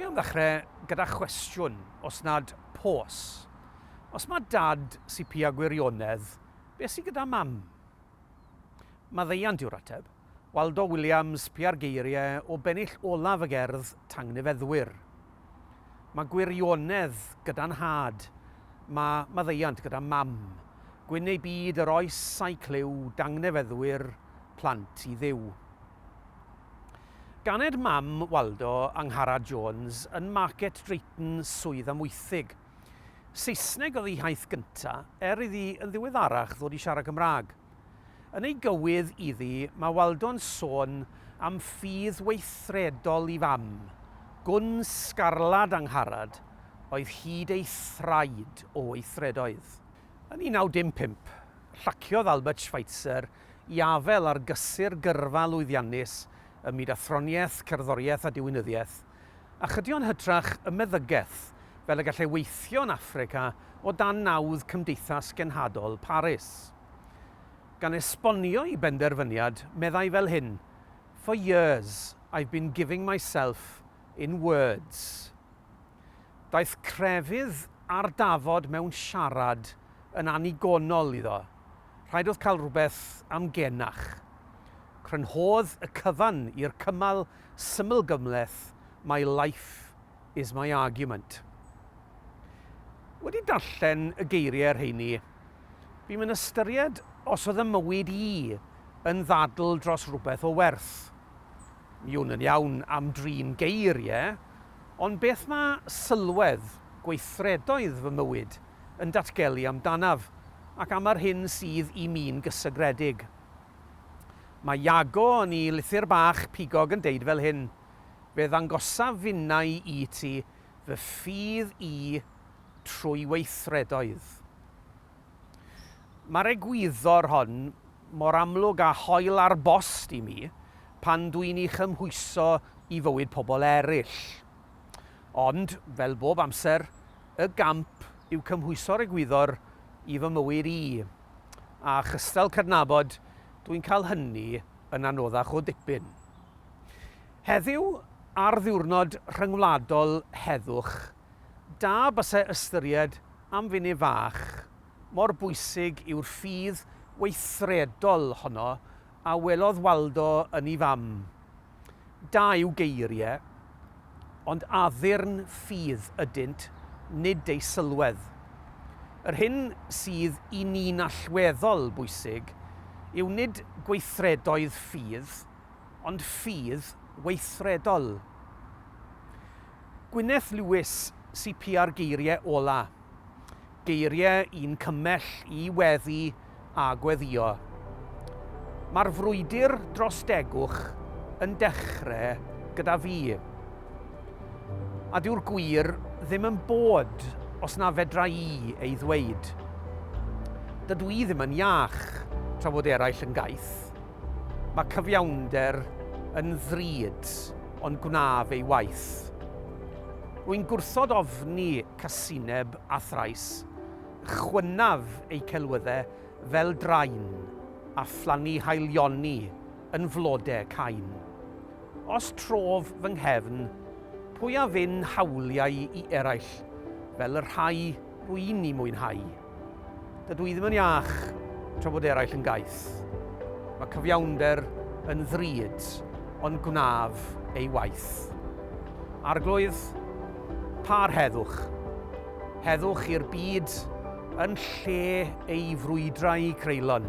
Dwi am ddechrau gyda chwestiwn, os nad pos. Os mae dad CP â gwirionedd, beth sydd gyda mam? Maddeuant yw'r ateb. Waldo Williams piau'r geiriau o bennill olaf y gerdd Tangnefeddwyr. Mae gwirionedd gyda nhad, mae maddeuant gyda mam, gwyn neu byd yr oes a'i clyw, dangnefeddwyr, plant i Dduw. Ganed mam Waldo, Angharad Jones, yn Market Drayton, Swydd Amwythig. Saesneg oedd ei hiaith gynta', er iddi yn ddiweddarach ddod i siarad Cymraeg. Yn ei gywydd iddi mae Waldo'n sôn am ffydd weithredol i fam, gwn sgarlad Angharad oedd hyd ei thraed o weithredoedd. Yn 1915, llaciodd Albert Schweitzer i afael ar gysur gyrfa lwyddiannus ym myd athroniaeth, cerddoriaeth a diwinyddiaeth, A chydio yn hytrach y meddygaeth, fel y gallai weithio yn Affrica o dan nawdd Cymdeithas Genhadol Paris. Gan esbonio'i benderfyniad, meddai fel hyn, For years I've been giving myself in words. Daeth crefydd a'r dafod mewn siarad yn annigonol iddo. Rhaid oedd cael rhywbeth am genach. Crynhodd y cyfan i'r cymal Syml gymhleth, My life is my argument. Wedi darllen y geiriau rheini, bu'm yn ystyried os oedd 'y mywyd i yn ddadl dros rywbeth o werth. Mi wn yn iawn am drin geiriau, ond beth mae sylwedd gweithredoedd fy mywyd yn datgelu amdanaf ac am yr hyn sydd i mi'n gysegredig? Mae Iago yn 'i lythyr bach pigog yn deud fel hyn, Fe ddangosaf finnau i ti fy ffydd i trwy weithredoedd. Mae'r egwyddor hon mor amlwg a hoel ar bost i mi pan dw i'n ei chymhwyso i fywyd pobl eraill. Ond, fel bob amser, y gamp yw cymhwyso'r egwyddor i fy mywyd i. a chystal cydnabod, dwi'n cael hynny yn anoddach o dipyn. Heddiw, ar ddiwrnod rhyngwladol heddwch, da basai ystyried am funud fach mor bwysig yw'r ffydd weithredol honno a welodd Waldo yn ei fam. Da yw geiriau, ond addurn ffydd ydynt, nid eu sylwedd. Yr hyn sydd i ni'n allweddol bwysig yw nid gweithredoedd ffydd, ond ffydd weithredol. Gwyneth Lewis, CPR Geiriau ola'. Geiriau un cymell i weddu a gweddïo. Mae'r frwydr dros degwch yn dechrau gyda fi. A dyw'r gwir ddim yn bod os na fedra i ei ddweud. Dydw i ddim yn iach tra fod eraill yn gaeth. Mae cyfiawnder yn ddrud ond gwnaf ei waith. Rwy'n gwrthod ofni casineb a thrais, chwynaf eu celwydde fel drain, a phlannu haelioni yn flode cain. Os trof fy nghefn, pwy a fyn hawliau i eraill, fel y rhai rwy'n 'u mwynhau? Dydw i ddim yn iach tra bod eraill yn gaeth. Mae cyfiawnder yn ddrud, ond gwnaf ei waith. Arglwydd, par heddwch. Heddwch i'r byd yn lle ei frwydrau creulon.